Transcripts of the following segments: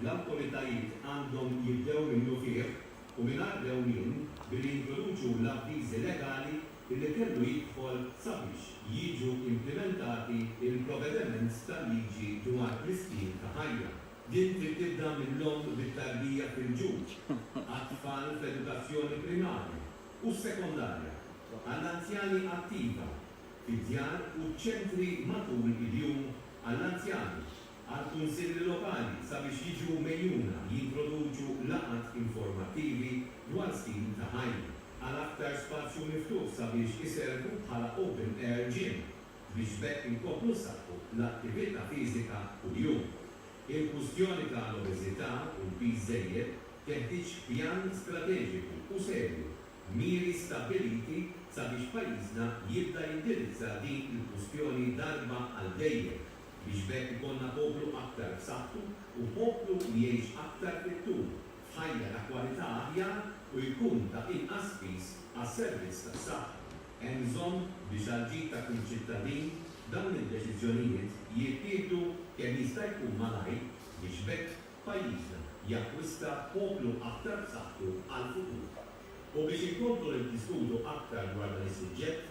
l-awtoritajiet għandhom jibdew minnufih u mingħajr dewmien billi jintroduċu l-avviżi legali li kellu jidħol sabiex jiġu implimentati l-provvedements tal-liġi dwar l-istil ta' ħajja. Din trid tibda mill-omm bit-tarbija fil-ġud għat-tfal fl-edukazzjoni primarja u sekondarja, għall-anzjani attiva fid-djar u ċ-ċentri matul il-jum għall-anzjani għall-Kunsilli Lokali sabiex jiġu megħjuna jintroduċu laqgħat informattivi dwar stil ta' ħajja għal aktar spazju miftuħ sabiex iservu bħala open air gym biex b'hekk inkomplu nsaħħu l-attività fiżika kuljum. Il-kwistjoni ta' l-obeżità u l-piż żejjed teħtieġ pjan strateġiku u serju b'miri stabbiliti sabiex pajjiżna jibda jindirizza din il-kwistjoni darba għal dejjem. biex b'hekk ikollna poplu aktar b'saħħtu u poplu li jgħix aktar fit-tul, f'ħajja ta' kwalità aħjar u jkun ta' inqas piż għas-servizz tas-saħħa. Hemm bżonn biex għall-ġid ta' kull ċittadin, dawn id-deċiżjonijiet jittieħdu kemm jista' jkun malajr biex b'hekk pajjiżna jakkwista poplu aktar b'saħħtu għall-futur. U biex inkomplu niddiskutu aktar dwar dan is-suġġett,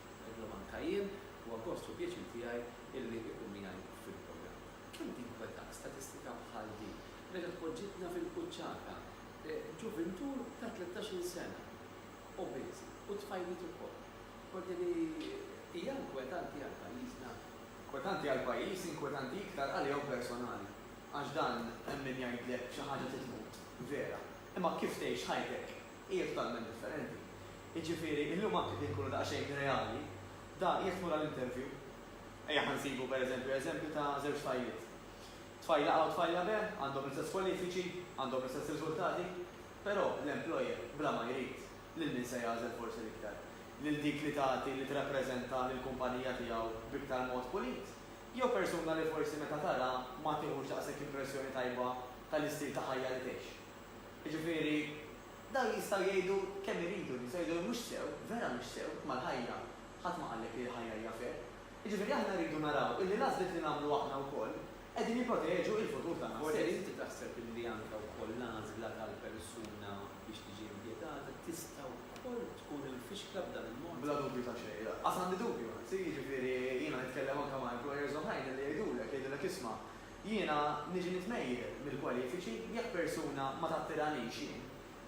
Illum anka jien huwa gost u pjaċir tiegħi illi ikun miegħi fil-programm. Kemm tinkweta statistika bħal di meta tpoġġitna fil-quċċata, ġuvintur ta' tlettax-il sena, obeż, u tfajliet ukoll. Tgħoddi li hija inkwetanti għal pajjiżna. Inkwetanti għal pajjiż, inkwetanti iktar għalihom personali. Għax dan hemm min jgħidlek xi ħaġa trid tmut, vera. Imma kif tgħix ħajtek Hija totalment differenti. Jiġifieri, illum anke kien nkunu daqsxejn reali, da jekk tmur għal interview, ejja ħa nsibu per eżempju eżempju ta' żewġ tfajliet. Tfajla A u tfajla B għandhom l-istess kwalifiċi, għandhom l-istess riżultati, però l-employer bla ma jrid, lil min se jagħżel forsi l-iktar? Lil dik li tagħti, li tirrappreżenta lill-kumpanija tiegħu b'iktar mod pulit? Jew persuna li forsi meta tara ma tieħux daqshekk impressjoni tajba tal-istil ta' ħajja li tgħix? Jiġifieri, dawn jistgħu jgħidu kemm iridu, jistgħu jgħidu li mhux sew, vera mhux sew, imma l-ħajja, ħadd ma qallek li l-ħajja hija fair. Jiġifieri aħna rridu naraw illi l-għażliet li nagħmlu aħna wkoll qegħdin jipproteġu il-futur tagħna stess. Forsi inti taħseb illi anke wkoll l-għażla tal-persuna biex tiġi impjegata tista' wkoll tkun imfixkla b'dan il-mod? Bla dubju ta' xejn, lanqas għandi dubju, anzi, jiġifieri jiena nitkellem anke ma' employers oħrajn illi jgħidulek, jgħidulek isma', Jiena niġi nitmejjel mill-kwalifiċi jekk persuna ma tattiranix jien.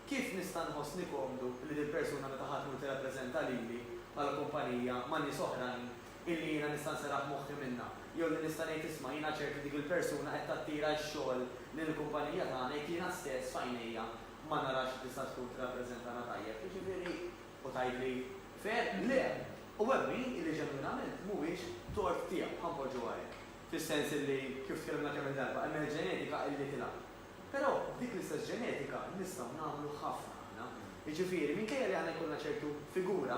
Kif nista' nħossni komdu li dil-persuna meta ħa tmur tirrappreżenta lili bħala kumpanija ma' nies oħrajn illi jiena nista' nserraħ moħħi minnha jew li nista' ngħid isma' jiena ċert li dik il-persuna qed tattira x-xogħol lejn il-kumpanija tagħna jekk jiena stess f'għajnejja ma narax li tista' tkun tirrappreżentana tajjeb, jiġifieri, u tgħidli, Fair? Le! U hemm min illi ġenwinament mhuwiex tort tiegħu, ħa npoġġuha hekk. fis-sens illi, kif tkellimna kemm-il darba, hemm il-ġenetika illi tilgħab. Però b'dik l-istess ġenetika nistgħu nagħmlu ħafna aħna. Jiġifieri, minkejja li aħna jkollna ċertu figura,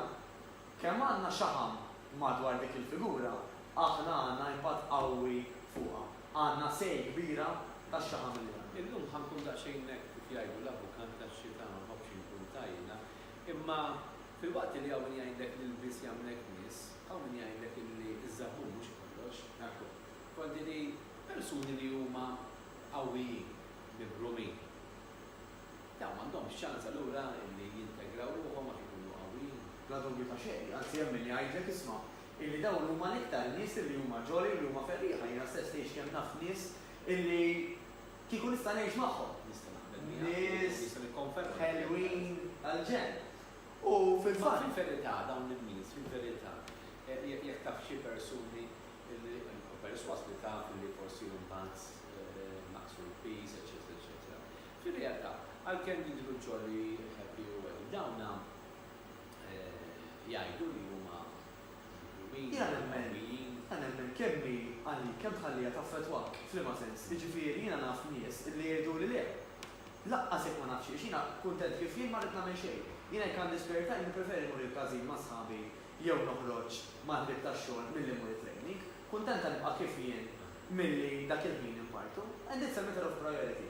kemm għandna xaħam madwar dik il-figura, aħna għandna impatt qawwi fuqha. Għandna say kbira tax-xaħam illi għandna. Illum ħa nkun daqsxejn hekk kif jgħidu l-avukat tax-xita, ma nħobbx inkun ta' ilha, imma filwaqt illi hawn min jgħidlek li l-lbies jagħmlek nies, Hawn min jgħidlek illi ż-żammum mhux kollox, nagħtu konti li persuni li huma qawwijin, mibrumin, dawn m'għandhomx ċans allura illi jintegraw ruħhom għax ikunu qawwijin? Bla dubju ta' xejn, anzi hemm min jgħidlek isma' illi dawn huma l-iktar nies illi huma ġoli, illi huma ferrieħa, jiena stess tgħix kemm naf nies illi kieku nista' ngħix magħhom. Nista' naqbel miegħek u nista' nikkonferma dak li qed tgħid. Nies ħelwin għall-ġenn. U fil-fatt. Ma fil-verità dawn in-nies fil-verità jekk taf xi persuni li u persważ li taf li forsi mbagħad naqqsu l-piż eċċetera eċċetera. Fir-realtà għalkemm jidhru jolly, happy u welly dawna jgħidu li huma miżlumin, qawwijin. Jiena nemmen kemm hi għalik kemm tħalliha taffettwak f'liema sens. Jiġifieri jiena naf nies li jgħiduli le. Laqqas jekk ma nafx għiex jiena kuntent kif jien ma rrid nagħmel xejn. Jiena jekk għandi spare time nippreferi mmur il-każin ma' sħabi jew noħroġ mal-ħbieb tax-xogħol milli mmur it-training. Kuntenta nibqa' kif jien milli dak il-ħin infarrtu. And it's a matter of priority.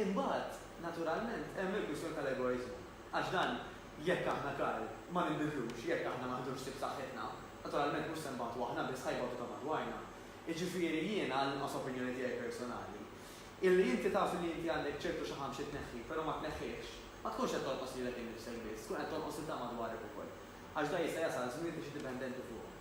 Imbagħad, naturalment, hemm il-kwistjoni tal-egoiżmu. Għax dan, jekk aħna Karl, ma ninbidlux, jekk aħna ma nħdux ħsieb saħħitna, naturalment mhux se nbagħtu aħna biss, ħa jbatu ta' madwarna. Jiġifieri jiena, għall-inqas opinjoni tiegħi personali, Illi inti taf illi inti għandek ċertu xaħam xi tneħħi, però ma tneħħihx, ma tkunx qed tonqos lilek innifsek biss, tkun qed tonqos lil dawk madwarek ukoll. Għax da jista' jasal żmien li trid dipendenti fuqhom.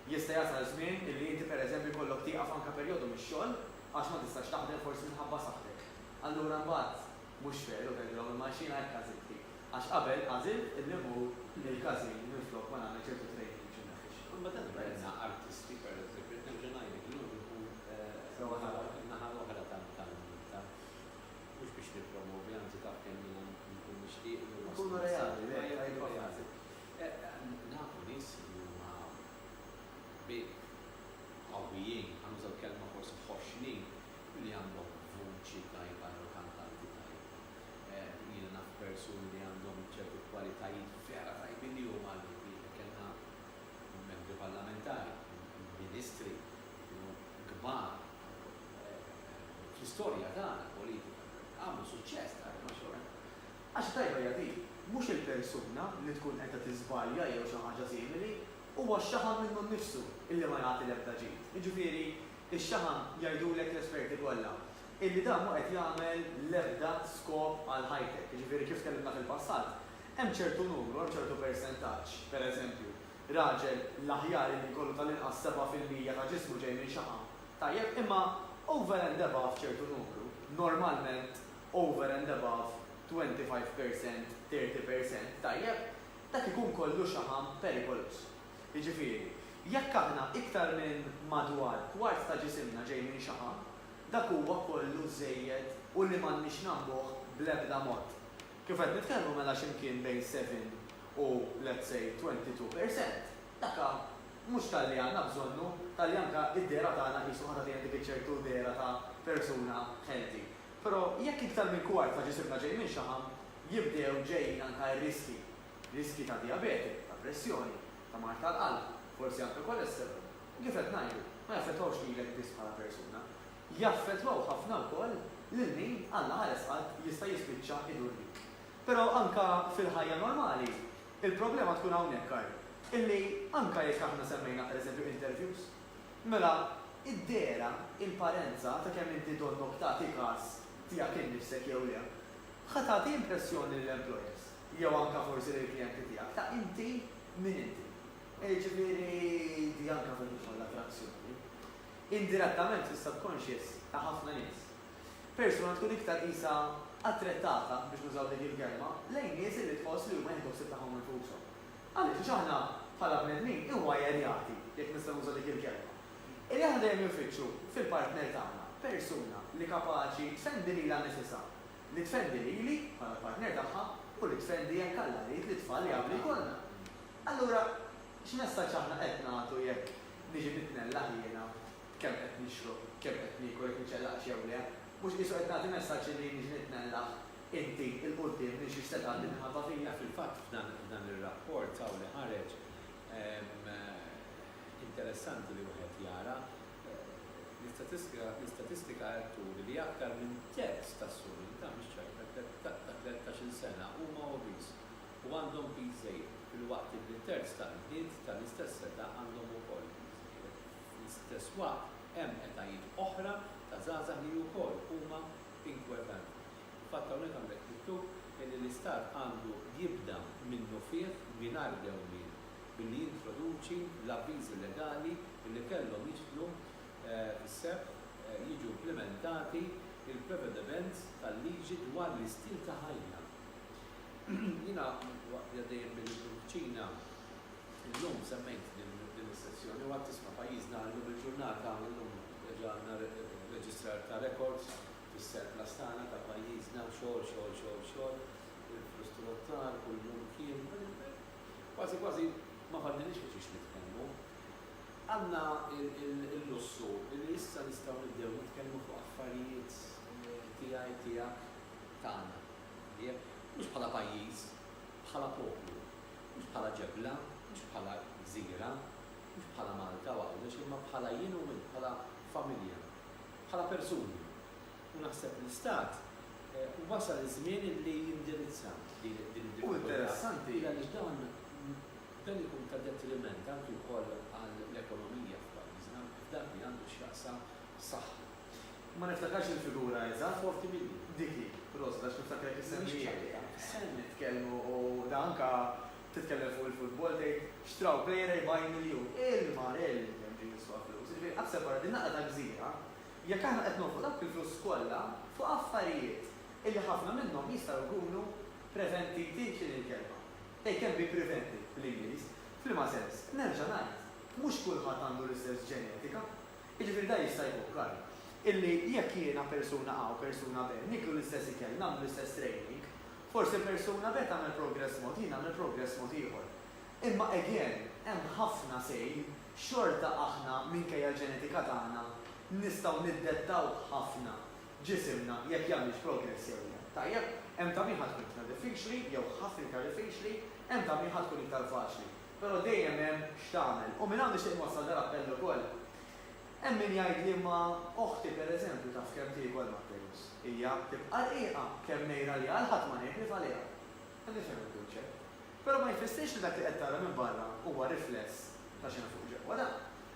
Jista' jasal żmien illi inti pereżempju jkollok tieqaf anke perjodu mix-xogħol għax ma tistax taħdem forsi minħabba saħħtek. Allura mbagħad mhux veru tgħidilhom il-malxina hekk għażiltli għax qabel għażilt illi mmur il-każin minflok ma nagħmel ċertu training biex inneħħi x-xaħam. Imma dan ma jmnaqqx artisti pereżempju, qed nerġa' ngħidlek illum inkun fin-naħa l-oħra tal-munita. Mhux biex nippromovi, anzi taf kemm jiena nkun nixtieq li huma. Nkunu reali, le, tajba frażi. Nafu nies li huma qbieħ, qawwijin, ħanuża l-kelma forsi ħoxnin, u li għandhom vuċi tajba jew kantanti tajba. Jiena naf persuni li għandhom ċertu kwalitajiet vera tajbin li huma għall-qbieħ. Kellna membri parlamentari, ministri, kienu kbar fl-istorja tagħna politika, għamlu suċċess tagħna ma' xorta. Għax tajba hija din, mhux il-persuna li tkun qiegħda tiżbalja jew xi ħaġa simili, huwa x-xaħam minnu nnifsu illi ma jagħti l-ebda ġid. Jiġifieri, ix-xaħam jgħidulek l-esperti kollha illi dan mhu qed jagħmel l-ebda skop għal ħajtek. Jiġifieri, kif tkellimna fil-passat, hemm ċertu numru, hemm ċertu persentaġġ, pereżempju, Raġel, l-aħjar illi jkollu tal-inqas sebgħa fil-mija ta' ġismu ġej minn xaħam. Tajjeb, imma over and above ċertu numru, normalment over and above twenty five percent, thirty percent, tajjeb, dak ikun kollu xaħam perikoluż. Jiġifieri, jekk aħna iktar minn madwar kwart ta' ġisimna ġej minn xaħam, dak huwa kollu żejjed u li m'għandniex nagħmbuh bl-ebda mod. Kif qed nitkellmu mela x'imkien bejn seven u let's say twenty two per cent. Daka mhux talli għandna bżonnu, talli anka id-dehra tagħna qisu ħa tagħtina dik iċ-ċertu dehra ta' persuna healthy. Però jekk iktar minn kwart ta' ġisimna ġej minn xaħam, jibdew ġejjin anka r-riskji. Riskji ta' dijabete, ta' pressjoni, ta' mard tal-qalb, forsi anke cholesterol. U kif qed ngħidu, ma jaffettwawx lilek biss bħala persuna. jaffettwaw ħafna wkoll lil min Alla ħares qalb jista' jispiċċa idur bik. Però anke fil-ħajja normali, il-problema tkun hawnhekk, Karl, illi anke jekk aħna semmejna pereżempju interviews, mela id-dehra, il-parenza ta' kemm inti donnok tagħti każ tiegħek innifsek jew le, ħa tagħti impressjoni lill-employers, jew anke forsi lill-klijenti tiegħek ta' inti min inti. Jiġifieri di anke fil-ħolqien kollha ta' l-azzjoni, indirettament fis-subconscious ta' ħafna nies. Persuna tkun iktar qisha attrettata, biex nużaw dik il-kelma, lejn nies li tħoss li huma jieħdu ħsieb tagħhom infushom. Għaliex? Għax aħna, bħala bnedmin, iwajerjati, jekk nista' nuża dik il-kelma, illi aħna dejjem infittxu fil-partner tagħna persuna li kapaċi tfendi lilha nnifisha, li tfendi lili, bħala l-partner tagħha, u li tfendi, jekk Alla jrid, lit-tfal li għadu jkollna. Allura, x'messaġġ aħna qed nagħtu jekk Niġi nitnellaħ jiena kemm qed nixrob, kemm qed niekol, jekk niċċellaqx jew le. Mhux qisu qed nagħti messaġġ illi niġi nitnellaħ inti 'l quddiem minn xiex se tgħaddi l-imħabba fija? Fil-fatt f'dan ir-rapport hawn li ħareġ interessanti li wieħed jara, l-istatistika qed turi li aktar minn terz tas-suq, din ta' mhix ċajta, ta' tlettax-il sena huma obese. u għandhom piż żejjed, filwaqt li terz tal-bniet tal-istess età għandhom ukoll piż żejjed. Fl-istess waqt, hemm etajiet oħra ta' żgħażagħ li wkoll huma inkwetanti. Fil-fatt hawnhekk għandek miktub illi l-Istat għandu jibda minnufih mingħajr dewmien billi jintroduċi l-avviżi legali illi kellhom jidħlu fis-seħħ jiġu implimentati l-prevedements tal-liġi dwar l-istil ta' ħajja Jiena waqt li għaddejjin bil-kuċina illum semmejt din is-sezzjoni u għedt isma' pajjiżna illum il-ġurnata illum reġa' għandna reġistrar ta' rekords fis-surplus tagħna ta' pajjiżna xogħol xogħol xogħol xogħol il-frustruttar kull jum kien kważi kważi ma fadlinniex fuq xiex nitkellmu għandna l-lussu li issa nistgħu nibdew nitkellmu fuq affarijiet tiegħi tiegħek tagħna. Tajjeb? Mhux bħala pajjiż, bħala poplu. Mhux bħala ġebla, mhux bħala gżira, mhux bħala Malta u Għawdex, imma bħala jien u int, bħala familja, bħala persuni. U naħseb li l-Istat wasal iż-żmien li jindirizza din id-diffikultà għaliex dan ikun ta' detriment anki wkoll għall-ekonomija f'pajjiżna f'dak li għandu x'jaqsam saħħa. Ma niftakarx il-figura eżatt, huwa ftit ilu. Dik hi, proset, għax niftakar jekk issemmieha. Send nitkellmu u da anka titkellem fuq il-futbol tgħid xtraw plejera jbajn miljun. Il-marell li hemm ġie jiswa flus. Jiġifieri aħseb ara din naqra ta' gżira jekk aħna qed nonfqu dawk il-flus kollha fuq affarijiet illi ħafna minnhom jistgħu jkunu preventiti, x'inhi l-kelma? They can be prevented bl-Ingliż. F'liema sens? Nerġa' ngħid, mhux kulħadd għandu l-istess ġenetika. Jiġifieri dan jista' jfukkarna illi jekk jiena persuna A u persuna B niklu l-istess ikel, nagħmlu l-istess training, forsi persuna B tagħmel progress mod, jien nagħmel progress mod ieħor. Imma again, hemm ħafna same, xorta aħna minkejja l-ġenetika tagħna nistgħu niddettaw ħafna ġisimna jekk jagħmilx progress jew le. Tajjeb? Hemm ta' min ħa tkun iktar diffiċli jew ħafna iktar diffiċli, hemm ta' min ħa tkun iktar faċli. Però dejjem hemm x'tagħmel. U minn hawn nixtieq inwassal dal-appell ukoll. Hemm min jgħid li imma oħti pereżempju taf kemm tiekol ma' Perus. Hija tibqa' rqiqa, kemm ngħir għaliha l-ħadd ma ngħigrif għaliha. Qed nifhem il-kunċett. Però ma jfissirx li dak li qed tara minn barra huwa rifless ta' x'hemm fuq ġewwa. Le.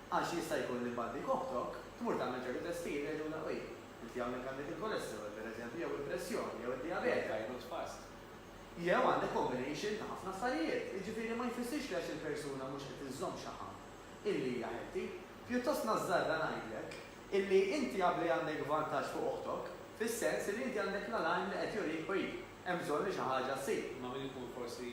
Għax jista' jkun li mbagħad dik oħtok tmur tagħmel ċertu testijiet u jgħidulha, uj, inti hawnhekk għandek il-kolesterol pereżempju jew il-pressjoni jew id-dijabete. Jew għandek combination ta' ħafna affarijiet, jiġifieri ma jfissirx li għax il-persuna mhux qed iżżomm xaħam illi hija healthy. Pjuttost nażżarra ngħidlek illi inti jaf li għandek vantaġġ fuq oħtok, fis-sens illi inti għandek l-alarm li qed jurik oj, hemm bżonn li xi ħaġa ssir. Imma min ikun forsi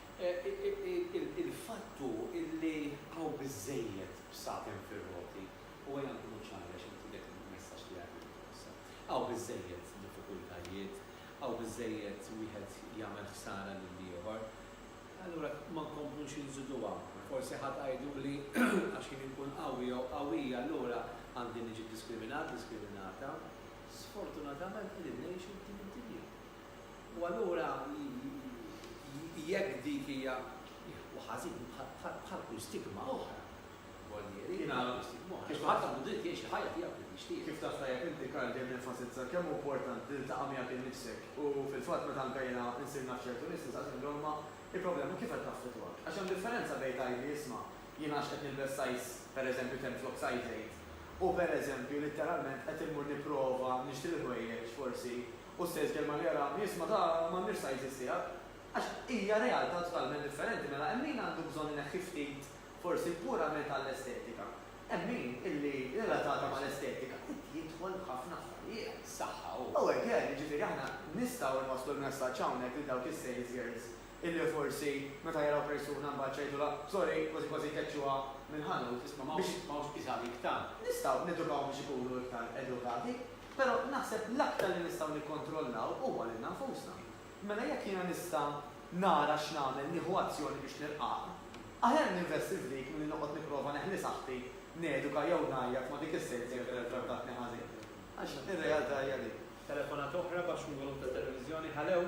Il-fatt hu illi hawn biżżejjed bsaten fir-roti u ejja nkunu ċari għax inti dak il-messaġġ li għad irrid twassal. Hawn biżżejjed diffikultajiet, hawn biżżejjed wieħed jagħmel ħsara lill-ieħor. Allura ma nkomplux inżiduha. Forsi ħa tgħiduli għax jien inkun qawwi jew qawwija allura għandi niġi diskriminat, diskriminata. Sfortunatament qegħdin ngħixu f'din id-dinja. U allura jekk dik hija, u ħażin, bħal kull stigma oħra, Gualtieri, bħal kull stigma oħra, għax kulħadd għandu dritt jgħix il-ħajja tiegħu kif jixtieq. Kif taf tajjeb inti, Karl, dejjem nenfasizza kemm hu importanti li ltaqa' miegħek innifsek. U fil-fatt meta anke jiena nsir naf ċertu nies nistaqsi lil omm, Il-problema kif qed taffettwak? Għax hemm differenza bejn tgħidli, Isma', jiena għax qed nilbes size, pereżempju, 10 flok size 8, u pereżempju, litteralment qed immur nipprova nixtri l-ħwejjeġ forsi Hu stess kelma li ara u jisma' ta' m'għandniex sizes tiegħek. Għax hija realtà totalment differenti mela hemm min għandu bżonn ineħħi ftit forsi purament għall-estetika. Hemm min illi relatata mal-estetika irid jidħol f'ħafna affarijiet. Saħħa hu. U hekk hemm, jiġifieri aħna nistgħu nwasslu l-messaġġ hawnhekk lil dawk is-sales girls illi forsi meta jaraw persuna mbagħad x'għidulha, sorry, kważi kważi jkeċċuha mill-ħanut. Isma' m'hawnx isha għalik tant. Nistgħu nedukahom biex ikunu iktar edukati. Però naħseb l-aktar li nistgħu nikkontrollaw huwa lilna nfusna. Mela jekk jiena nista' nara x'nagħmel nieħu azzjoni biex nilqagħha. Aħjar ninvesti f'dik milli noqgħod nipprova neħli saħħti, neduka jew ngħajjat ma' dik is-sejt jekk vera trattatni ħażin. Għax ir-realtà hija dik. Telefonata oħra baxx minn volum tat-televiżjoni, Halew!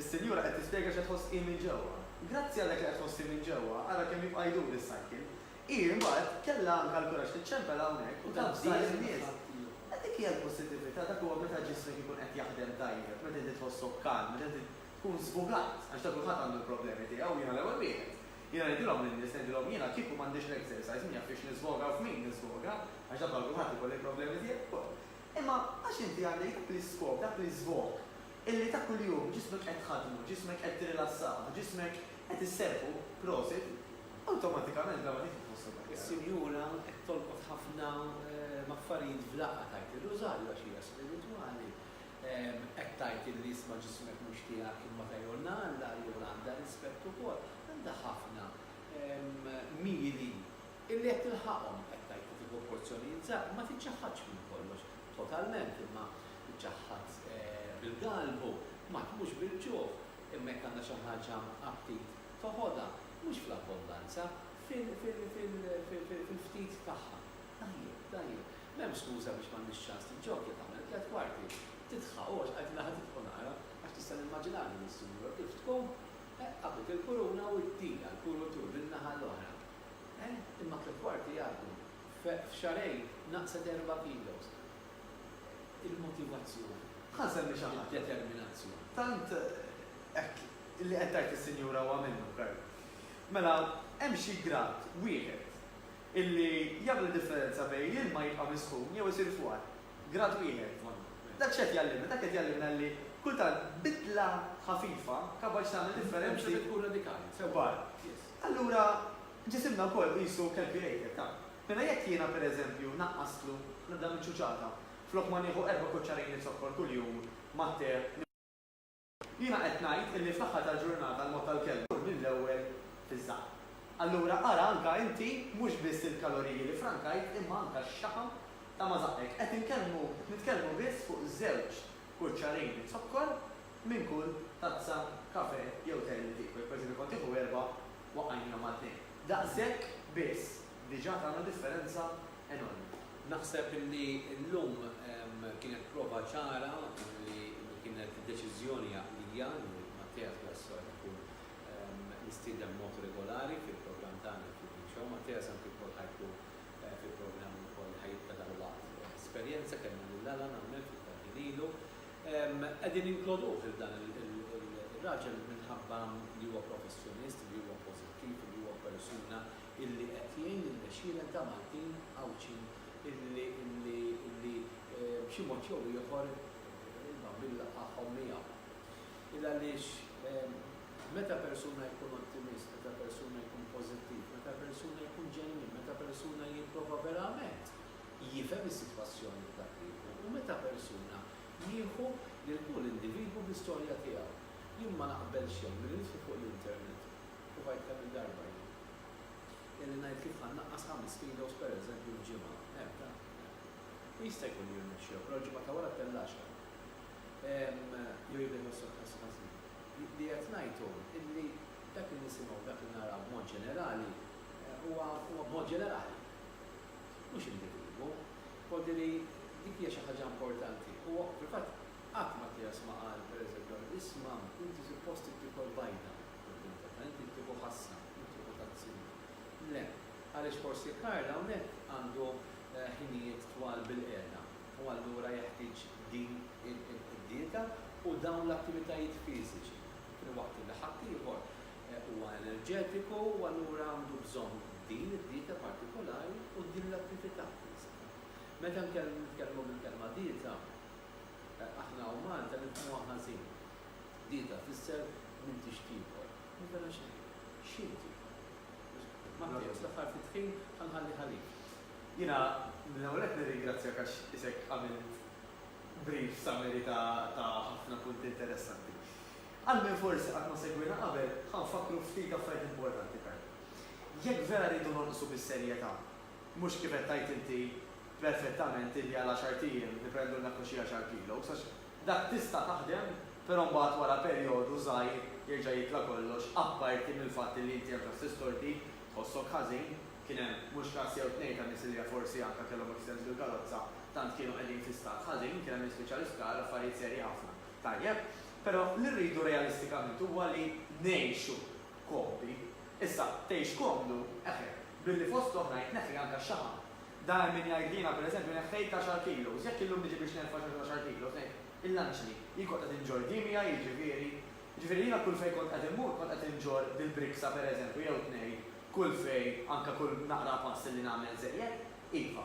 Is-sinjura qed tispjega x'qed tħoss hi minn ġewwa. Grazzi għal dak li qed tħoss hi minn ġewwa, ara kemm jibqa' jdur is-cycle. Hi mbagħad kellha anke l-kuraġġ tiċċempel hawnhekk u tavża lin-nies. E dik hija l-pożittività, dak huwa meta ġismek ikun qed jaħdem tajjeb, meta inti tħossok calm, meta inti tkun żbugat, għax ta' kulħadd għandu l-problemi tiegħu u jiena l-ewwel wieħed. Jiena ngħidilhom lin-nies, ngħidilhom jiena kieku m'għandix l-exercise min jaf fiex niżvoga u f'min niżvoga, għax dak bħal kulħadd ikolli l-problemi tiegħi wkoll. Imma għax inti għandek dak l-iskop, dak l-iżvog, illi ta' kuljum ġismek qed tħaddnu, ġismek qed tirrilassah, ġismek qed isserħu, prosit, awtomatikament bla ma tieħu tħossok aħjar. Is-Sinjura qed tolqot ħafna b'affarijiet f'daqqa, tgħid ir-Rużarju għax hija spiritwali, qed tgħid illi isma' ġismek mhux tiegħek imma ta' Jonna Alla, allura għandha rispett ukoll, għandha ħafna miri illi qed tilħaqhom, qed tgħid li tieħu porzjonijiet żgħar, ma tiċċaħħadx minn kollox, totalment imma ċaħħad bil-galbu, ma tmutx bil-ġuħ, imma jekk għandha xi ħaġa aptit toħodha, mhux fl-abbondanza, fil-ftit tagħha. Tajjeb, tajjeb. M'hemm skuża biex m'għandhiex ċans tiġġokkja tagħmel tliet kwarti. Tidħaq, u għax qegħdilha ħa tidħu nara, għax tista' nimmaġinha din is-sinjura kif tqum, eh, qabdet il-kuruna u ddielha l-kurutur min-naħa l-oħra. Eh, imma tliet kwarti jgħaddu. F'xahrejn naqset erba' kilos. Il-motivazzjoni. Ħa nsemmi xi ħaġa. Id-determinazzjoni. Tant hekk li qed tgħid is-sinjura huwa minnu, Kurt. Mela, hemm xi grad wieħed illi jagħmel id-differenza bejn l-ilma jibqa' misħun jew isir fwar. Grad wieħed. Dak x'qed jgħallimna? Dak qed jgħallimna li kultant bidla ħafifa kapaċi tagħmel differenzi. Differenza li tkun radikali. Kbar. Allura Ġisimna wkoll qisu calculated, taf. Mela jekk jiena, per eżempju, naqqastlu nibda minn ċuċata, flok ma nieħu erba' kuċċarin li zokkor kuljum mat-te minn dak, jiena qed ngħid illi fl-aħħar tal-ġurnata l-mod tal-kelma jmur mill-ewwel fiż-żgħar. Allura ara anka inti mhux biss il-kaloriji li frankajt imma anka x-xaħam ta' ma' żaqqek. Qed inkellmu, qed nitkellmu biss fuq żewġ kuċċarin zokkor minn kull tazza kafe jew te li tieku, jekk per eżempju kont tieħu erba' u għajnejha Maltin. Daqshekk biss diġà tagħna differenza enormi. Naħseb li llum kienet prova ċara li kienet deċiżjoni għaqlija li Mathias Grassot ikun mistieden b'mod regolari fil-programm tagħna l-Cooking Show. Mathias anki wkoll ħa jkun fil-programm ukoll ħa jibqa' dalwaqt. Esperjenza kellna lil Alan hawnhekk ftit tal-ħin ilu. Qegħdin jinkluduh lil dan ir-raġel minħabba li huwa professjonist, li huwa pożittiv u li huwa persuna illi qed jgħin lill-għexieren ta' Maltin Għawdxin illi b'xi mod jew ieħor il-bambin laqagħhom miegħu. Ilgħaliex meta persuna jkun ottimist, meta persuna jkun pożittiv, meta persuna jkun ġenwin, meta persuna jipprova verament jifhem is-sitwazzjoni f'dak li jkun u meta persuna jieħu lil kull individwu bl-istorja tiegħu. Jien ma naqbel xejn milli nidħlu fuq l-internet, u għidt kemm il-darba jien, kelli ngħid kif ħa nnaqqas ħames kilos pereżempju f'ġimgħa, hemm dan. U jista' jkun li jirnexxilha, però l-ġimgħa ta' wara tellgħaxha. Ehm, jew jibda jħossok ħass ħażin. Li qed ngħid hu illi dak li nisimgħu, dak li naraw b'mod ġenerali, huwa b'mod ġenerali. Mhux individwu. B'mod li dik hija xi ħaġa importanti. Huwa fil-fatt qatt Mattias ma qal, pereżempju, għal Ris, Mam, inti suppost ittieħu l-bajda quddiem tata, inti ttieħu ħassa, u ttieħu tazzina. Le. Għaliex forsi Karl hawnhekk għandu ħinijiet twal bilqiegħda u allura jeħtieġ din id-dieta u dawn l-attivitajiet fiżiċi filwaqt li ħaddieħor Huwa enerġetiku u allura għandu bżonn din id-dieta partikolari u din l-attività fiżika. Meta nitkellmu bil-kelma dieta, aħna hawn Malta nifhmuha ħażin. Dieta tfisser m'intix tiekol. U mela x'inhi? X'inhi tiekol? Matteo, st'aħħar ftit ħin ħa nħalli għalik. Jiena l-ewwel nett nirringrazzjak għax isek għamilt brief summary ta' ħafna punti interessanti. Għal min forsi qatt ma segwiena qabel, ħa nfakkru ftit affarijiet importanti ferm. Jekk vera rridu nonqsu bis-serjetà, mhux kif qed tgħid inti perfettament illi għal għaxart ijiem niprendu l-mekku xi għaxar kilos għax dak tista' taħdem però mbagħad wara perjodu żgħir jerġa' jitla' kollox apparti mill-fatt illi inti hemm ġast tistordi, tħossok ħażin, kien hemm mhux każ jew tnejn ta' nies illi forsi anke kellhom accidents bil-karozza tant kienu qegħdin fi stat ħażin, kien hemm nies spiċċaw l-isptar, affarijiet serji ħafna. Tajjeb. Però li rridu realistikament huwa li ngħixu komdi. Issa, tgħix komdu, eħe, billi fost l-oħrajn tneħħi anke x-xaħam. Da hemm min jgħid li jiena pereżempju neħħejt għaxar kilos, jekk illum niġi biex nerfa' xorta għaxar kilos, ngħid, il-lanċni, jien kont qed inġorr diem miegħi, jiġifieri, jiġifieri jiena kull fejn kont qed immur kont qed inġorr dil-briksa pereżempju jew tnejn kull fejn anke kull naqra pass li nagħmel żejjed. Iva,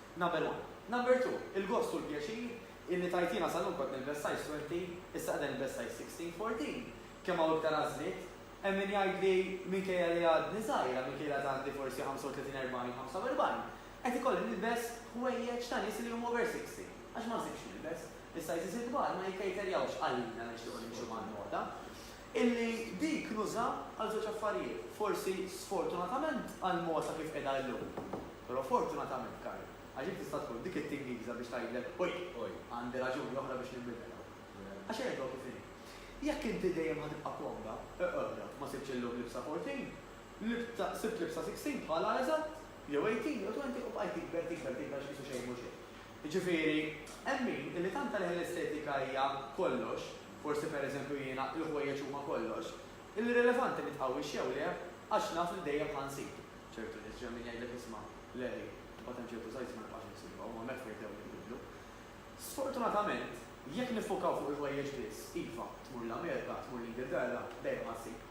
Number one. Number two, il-gost u l-pjaċir illi tajtina sal-lum kont nilbes size twenty, issa qiegħda nilbes size sixteen, fourteen. Kemm hawn iktar għażliet. Hemm min jgħidli minkejja li għadni żgħira, minkejja li għad għandi forsi ħamsa u tletin, erbgħin, ħamsa u erbgħin, qed ikolli nilbes ħwejjeġ ta' nies li huma over sixty, għax ma nsibx x'nilbes. Is-sizes il-kbar ma jikkejterjawx għalina li nixtiequ nimxu mal-moda. Illi dik nuża għal żewġ affarijiet, forsi sfortunatament għal mogħsa kif qiegħda illum. Però fortunatament, Karl, għax int tista' tkun dik it-tingiża biex tgħidlek, Oj, oj, għandi raġuni oħra biex ninbidel hawn. Għax erbgħu kif inhi. Jekk inti dejjem ħa tibqa' komda, eqgħodha, ma sibtx illum libsa fourteen, libsa, sibt libsa sixteen bħalha eżatt, jew eighteen, jew twenty u bqajt tikber, tikber, tikber għax qisu xejn mhu xejn. Jiġifieri, hemm min, illi tant għalih l-estetika hija kollox, forsi pereżempju jiena, il-ħwejjeġ huma kollox, l-irrilevanti nitqawwix jew le, għax naf li dejjem ħa nsib. Ċertu nies, ġej hemm min jgħidlek isma', le ħi, imbagħad hemm ċertu size ma nibqax insibha, huma mekk ħajbdew jinbidlu. Sfortunatament, jekk niffukaw fuq il-ħwejjeġ biss, iva, tmur l-Amerika, tmur l-Ingilterra, dejjem ħa ssib.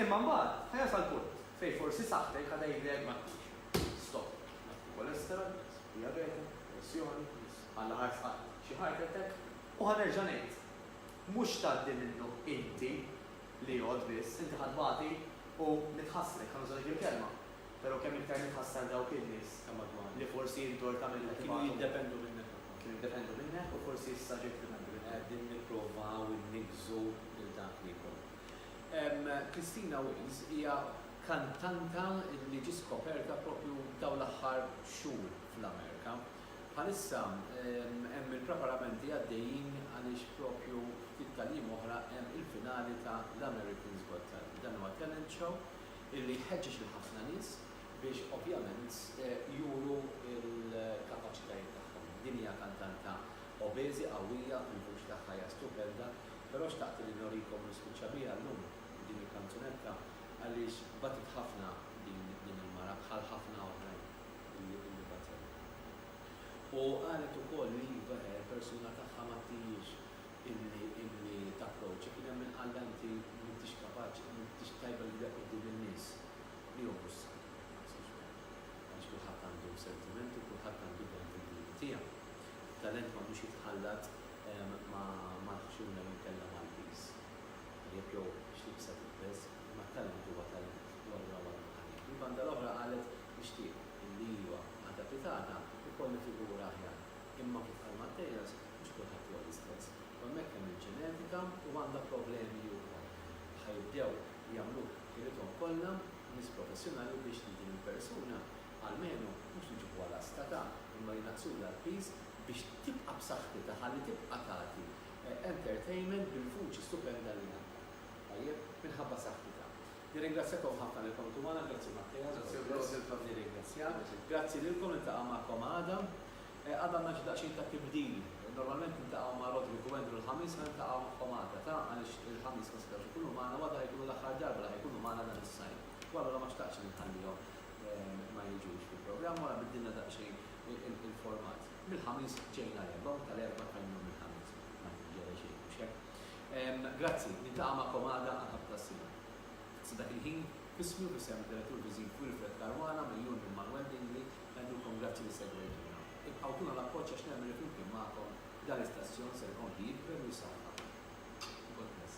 Imma mbagħad, ħa jasal punt, fejn forsi saħħtek ħa tgħidlek, ma tmurx, stop. Naf li cholesterol, naf li diabete, pressjoni, Alla ħarf qatt, xi heart attack, u ħa nerġa' ngħid, mhux tgħaddi minnu inti li għodd biss, inti ħa tbati u nitħassrek, ħa nuża dik il-kelma, pero' kemm iktar nitħassar dawk in-nies li forsi int dort tagħmilhom ibatu. Kienu jiddependu minnek ukoll. Kienu jiddependu minnek u forsi issa ġejt tiddependi minnhom. Qegħdin nipprovaw inniggżu lil dak li jkollhom. Christina Wills hija kantanta li ġiet skoperta proprju f'dawn l-aħħar xhur fl-Amerika. Bħalissa hemm il-preparamenti għaddejjin għaliex proprju ftit tal-jiem oħra hemm il-finali ta' l-Americans Got Talent. Dan huwa talent show li jħeġġeġ lil ħafna nies biex ovvjament juru l-kapaċitajiet tagħhom. Din hija kantanta obeżi, qawwija, il-vuċi tagħha hija stupenda Però xtaqt li norikom u nispiċċa biha llum b'din il-kanzunetta għaliex batet ħafna din il-mara bħal ħafna oħrajn illi batew. U qalet ukoll li iva le l-persuna tagħha ma ttijiehx illi tapproċċi, kien hemm min qallha inti m'intix kapaċi, m'intix tajba li tibda quddiem in-nies. Li hu mhux saħħ, ma naħsibx b'hekk. Għaliex kulħadd għandu sentimenti u kulħadd għandu talent individwi tiegħu. Talent m'għandux jitħallat Ma nafx jien mela nkellem Maltiż, tajjeb jew x'tip se tilbes, imma t-talent huwa talent u allura huwa għandu talent. Mill-banda l-oħra qalet, Nixtieq illi iva, għada fit għada, ikolli figura aħjar. Imma kif qal Matteas, mhux kulħadd huwa l-istess. U hemmhekk hemm il-ġenetika u għandha problemi hi wkoll. Ħa jibdew jagħmluk ħilithom kollha nies professjonali biex lil din il-persuna, almenu, mhux niġibuha lasta ta', imma jnaqqsulha l-piż biex tibqa' b'saħħitha ħalli tibqa' tagħti entertainment bil-vuċi stupenda li għandha. Tajjeb? Minħabba saħħitha. Nirringrazzjakom ħafna li kontu magħna, grazzi Matteas, God bless. Grazzi a wkoll. Nirringrazzjak. Grazzi lilkom, niltaqa' magħkom għada. Għada għandna xi daqsxejn ta' tibdil. Normalment niltaqgħu ma' Roderick u Andrew l-Ħamis, ħa niltaqgħu magħhom għada, ta? għaliex il-Ħamis ma setgħux ikunu magħna u għada ħa jkunu l-aħħar darba li ħa jkunu magħna dan is-sajf. U allura ma xtaqtx li nħallihom ma jiġux fil-programm u ara biddilna daqsxejn il-format. Mill-Ħamis ġej nhar l-Erbgħa u tal-Erbgħa tal-Jum il-Ħamis. Ma jġara xejn, mhux hekk? Ehm, grazzi, niltaqa' magħkom għada għal ħadd tas-sena. Sa dak il-ħin, f'ismi u f'isem id-Direttur Viżiv Wilfred Caruana mill-Jun minn Manuel Dingli, ngħidulkom grazzi li segwejtuna. Ibqgħu tuna l-appoġġ għax nemmen li flimkien magħkom dan l-istazzjon ser ikompli jikber u jsaħħaħ. God bless.